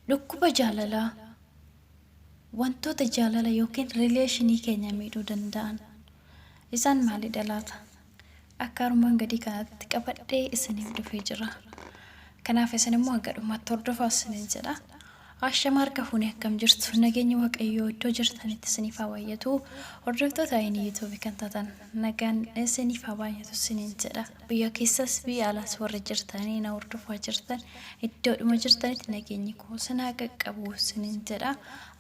Dhukkuba jaalalaa wantoota jaalala yookiin rileeshinii keenya miidhuu danda'an isaan maalidha laata? akka armaan gadii kanatti qabadhee isiniif dhufee jira. Kanaaf isin immoo hanga dhumaatti hordofaa isiniin jedha. Ashama harka fuunee akkam jirtu nageenyi waaqayyoo iddoo jirtanitti isiniif haa baay'atu. Hordoftoota ayinii yuutuubii kan taatan nagaan isiniif haa baay'atu isiniin jedha. Biyya keessas biyya alaas warri jirtanii na hordofaa jirtan iddoodhuma jirtanitti nageenyi koo isin haa qaqqabu isiniin jedha.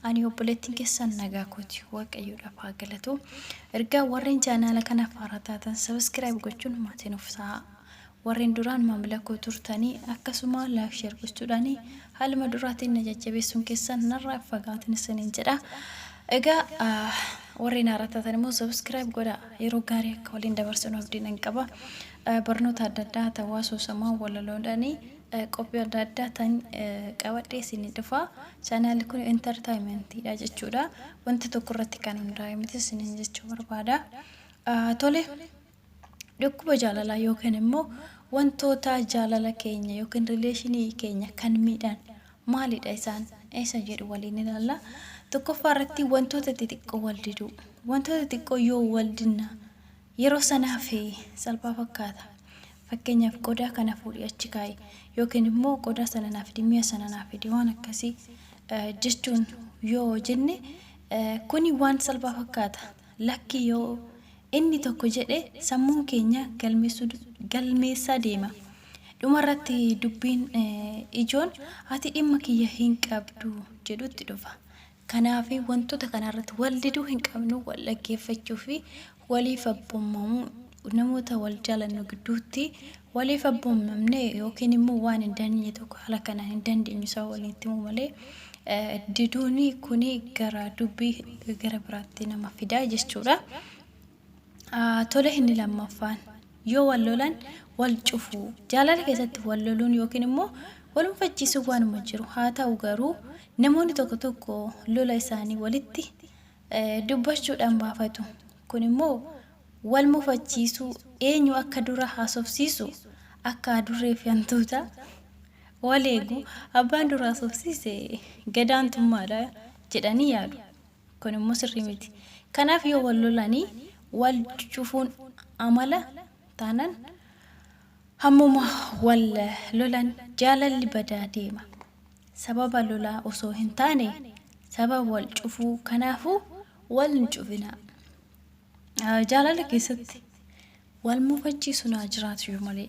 Ani obboleettiin keessan nagaa kooti waaqayyoodhaaf haa galatu. Ergaa warreen chaanaala kanaaf haaraa taatan sabiskiraayib gochuun maatii nuuf ta'a. Warreen duraan maamila koo turtanii akkasuma laayik sheer gochuudhaan haaluma duraatiin na jajjabeessuun keessan narraa hin fagaatin isiniin jedha. Egaa ah, warreen haaraa taatan immoo sabiskiraayib godha. Yeroo gaarii akka waliin dabarsinu abdii nan qaba. Ah, Barnoota adda addaa ta'uu asoosamaa walaloodhaanii Qophii adda addaa tan qabadhee isinii dhufa. Channel kun entertainment dha jechuudha. Wanta tokko irratti kan hundaa'e miti isiniin jechuu barbaada. Ah, Tole, dhukkuba jaalalaa yookiin immoo wantoota jaalala keenya yookiin rileeshinii keenya kan miidhan maalidha isaan? Isa jedhu waliin ilaalla. Tokkoffaa irratti wantoota xixiqqoo wal diduu. Wantoota xixiqqoo yoo wal dinna Yeroo sana hafe salphaa fakkaata. Fakkeenyaaf qodaa kana fuudhii achi kaa'i yookiin immoo qodaa sana naa fidi mi'a sana naa fidi waan akkasii jechuun yoo jenne kuni waan salphaa fakkaata. Lakki yoo inni tokko jedhe sammuun keenya galmeessaa deema. Dhumarratti dubbiin ijoon ati dhimma kiyya hin qabdu jedhutti dhufa. Kanaaf wantoota kana irratti wal diduu hin qabnu, wal dhaggeeffachuu fi waliif abboomamuu. Namoota wal jaalannu gidduutti waliif abboomamne yookiin immoo waan hin dandeenye tokko haala kanaan hin dandeenyu isaa waliin itti himuu malee eh, diduun kun gara dubbii gara biraatti nama fida jechuudha. Tole inni lammaffaan yoo wal lolan wal cufu. Jaalala keessatti wal loluun yookiin immoo wal mufachiisuun waanuma jiru. Haa ta'u garuu namoonni tokko tokko lola isaanii walitti dubbachuudhaan baafatu. Kun immoo wal mufachiisuu eenyu akka dura haasofsiisu akka adurree fi hantuuta wal eegu abbaan dura haasofsiise gadaantummaadha jedhanii yaadu. Kun immoo sirrii miti. Kanaaf yoo wal lolanii wal cufuun amala taanan hammuma wal lolan jaalalli badaa deema. Sababa lolaa osoo hin taane sababa wal cufuu kanaafuu wal hin cufinaa. Jaalala keessatti wal mufachiisuun haa jiraatu iyyuu malee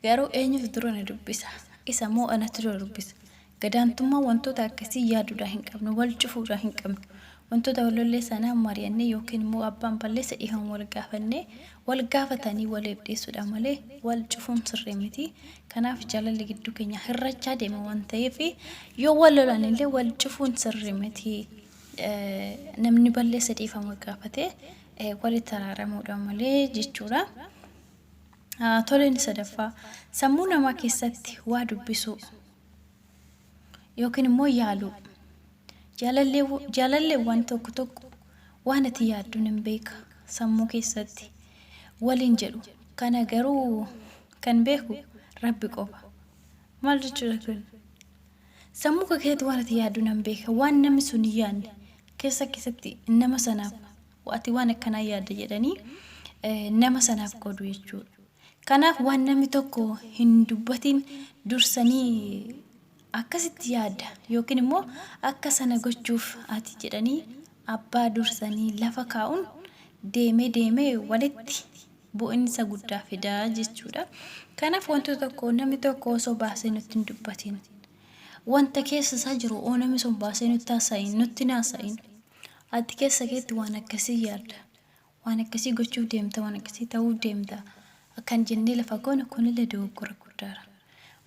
garuu eenyutu dura na dubbisa isa moo anatu dura dubbisa Gadaantummaa wantoota akkasii yaaduudhaa hin qabnu, wal cufuudhaa hin qabnu. Wantoota wal lollee sanaa mari'annee ykn immoo abbaan balleessa dhihaan wal gaafannee, wal gaafatanii waliif dhiisuudha malee wal cufuun sirrii miti. Kanaaf jaalalli gidduu keenyaa hirrachaa deema waan ta'eef yoo wal lolan illee wal cufuun sirrii miti. Namni balleessa dhiifama gaafatee walitti araaramuudha malee jechuudha. Toleen sadaffaa sammuu namaa keessatti waa dubbisuu. yookiin immoo yaaluu. Jaalalleewwan tokko tokko waan ati yaaddu nan beeka sammuu keessatti waliin jedhu. Kana garuu kan beeku rabbi qofa. Maal jechuudha kun? Sammuu kee keessatti waan ati yaaddu nan beeka. Waan namni sun hin yaadne keessa keessatti nama sanaaf ati waan akkanaa yaadda jedhanii nama sanaaf qoodu jechuudha. Kanaaf waan namni tokko hin dubbatiin dursanii akkasitti yaadda yookiin immoo akka sana gochuuf ati jedhanii abbaa dursanii lafa kaa'uun deemee deemee walitti bu'insa guddaa fida jechuudha. Kanaaf wanti tokko namni tokko osoo baasee nutti hin dubbatiin wanta keessa isaa jiru oo namni sun baasee nutti haasa'in nutti hin haasa'in ati keessa keetti waan akkasii yaadda waan akkasii gochuuf deemta, waan akkasii ta'uuf deemta akkan jennee lafa goonu kunillee dogoggora guddaadha.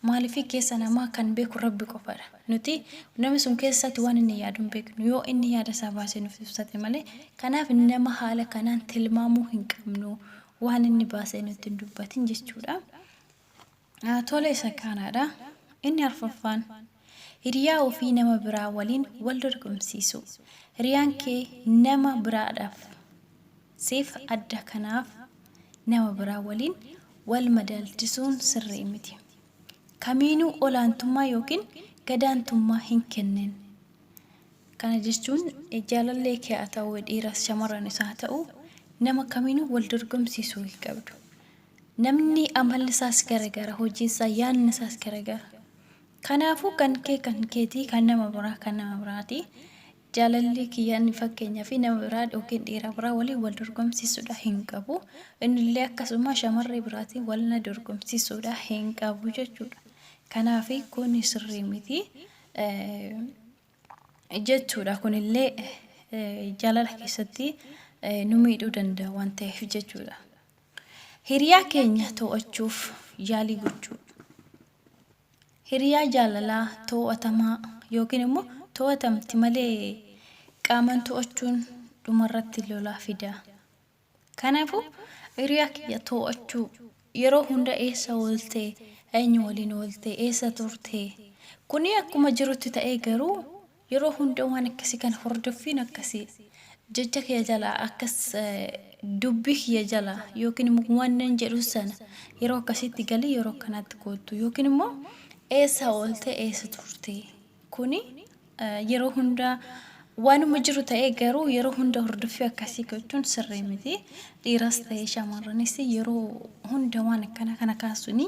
Maaliif keessa namaa kan beeku Rabbi qofadha. Nuti nama sun keessaatti waan inni yaadu hin beeknu. Yoo inni yaada isaa baasee nuuf ibsate malee. Kanaaf nama haala kanaan tilmaamuu hin qabnu waan inni baasee nutti hin dubbatin jechuudha. Tole isa kaanaadha. Inni arfaffaan hiriyaa ofii nama biraa waliin wal dorgomsiisuu. Hiriyaan kee nama biraadhaaf siif adda kanaaf nama biraa waliin wal madaalchisuun sirrii miti. Kamiinuu olaantummaa yookiin gadaantummaa hin kennin. Kana jechuun jaalallee kee haa ta'u dhiiras shamarran isaa haa ta'u nama kamiinuu wal dorgomsiisuu hin qabdu. Namni amalli isaas garagara, hojiin isaa, yaadni isaas garagara. Kanaafuu kan kee kan keetii, kan nama biraa kan nama biraati. Jaalalli kiyya inni fakkeenyaaf nama biraa yookiin dhiira biraa waliin wal dorgomsiisuudha hin qabu. Innillee akkasuma shamarree biraatiin wal na dorgomsiisuudha hin qabu jechuudha. Kanaaf kun sirrii miti. jechuudha. Kun illee jaalala keessatti nu miidhuu danda'a waan ta'eef jechuudha. Hiriyaa keenya to'achuuf yaalii gochuu. Hiriyaa jaalalaa to'atamaa yookiin immoo to'atamti malee qaaman to'achuun dhumarratti lolaa fida. Kanaafuu, hiriyaa kiyya to'achuu, yeroo hunda eessa oolte, eenyu waliin oolte, eessa turte, kuni akkuma jirutti ta'ee garuu yeroo hunda waan akkasii kana hordoffiin akkasii jecha kiyya jalaa akkas dubbii kiyya jalaa yookiin immoo waanan jedhu sana yeroo akkasiitti galii yeroo akkanaatti koottu yookiin immoo eessa oolte, eessa turte. Kuni yeroo hunda waanuma jiru ta'ee garuu yeroo hunda hordoffii akkasii gochuun sirrii miti. Dhiiras ta'ee shamarranis yeroo hunda waan akkana kana kaasuun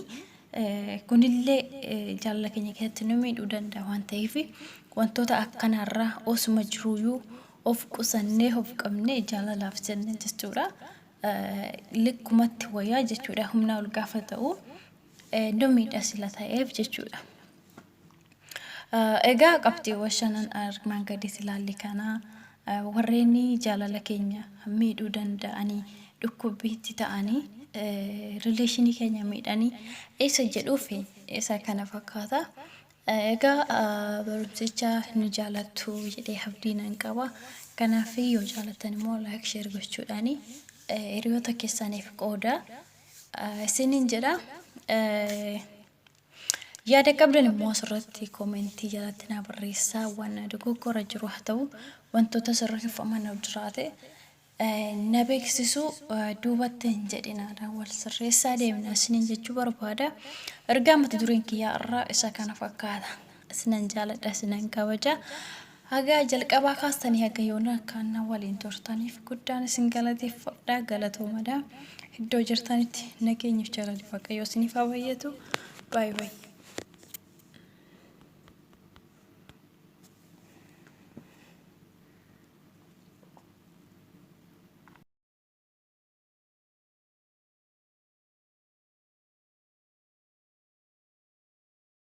kunillee jaalala keenya keessatti nu miidhuu danda'a waan ta'eef wantoota akkanaarraa osuma jiruuyuu of qusannee of qabnee jaalalaaf jenne jechuudha. Likkumatti wayyaa jechuudha humnaa ol gaafa ta'u nu miidha sila ta'eef jechuudha. Egaa qabxiiwwan shanan armaan gadiis ilaalle kana warreen jaalala keenya miidhuu danda'anii dhukkubbiitti ta'anii rileeshinii keenya miidhanii isa jedhuuf isa kana fakkaata. Egaa barumsicha ni jaalattu jedhee abdii nan qaba. Kanaaf yoo jaalattan immoo laayik sheer gochuudhaan hiriyoota keessaniif qooda isiniin jedha. Yaada qabdan immoo asirratti comment jalatti naa barreessaa waan dogoggora jiru haa ta'u wantoota sirra hifaman yoo jiraate na beeksisuu duubatti hin jedhinaadha wal sirreessaa deemna isiniin jechuu barbaada ergaa mata dureen kiyyaa irraa isa kana fakkaata isinan jaaladha isinan kabaja Haga jalqabaa kaastanii haga yoonaa akkaan na waliin turtaniif guddaan isin galateeffadha. Galatoomadha. Iddoo jirtanitti nageenyif jaalalli Waaqayyoo isiniif haa baay'atu. Baay baay.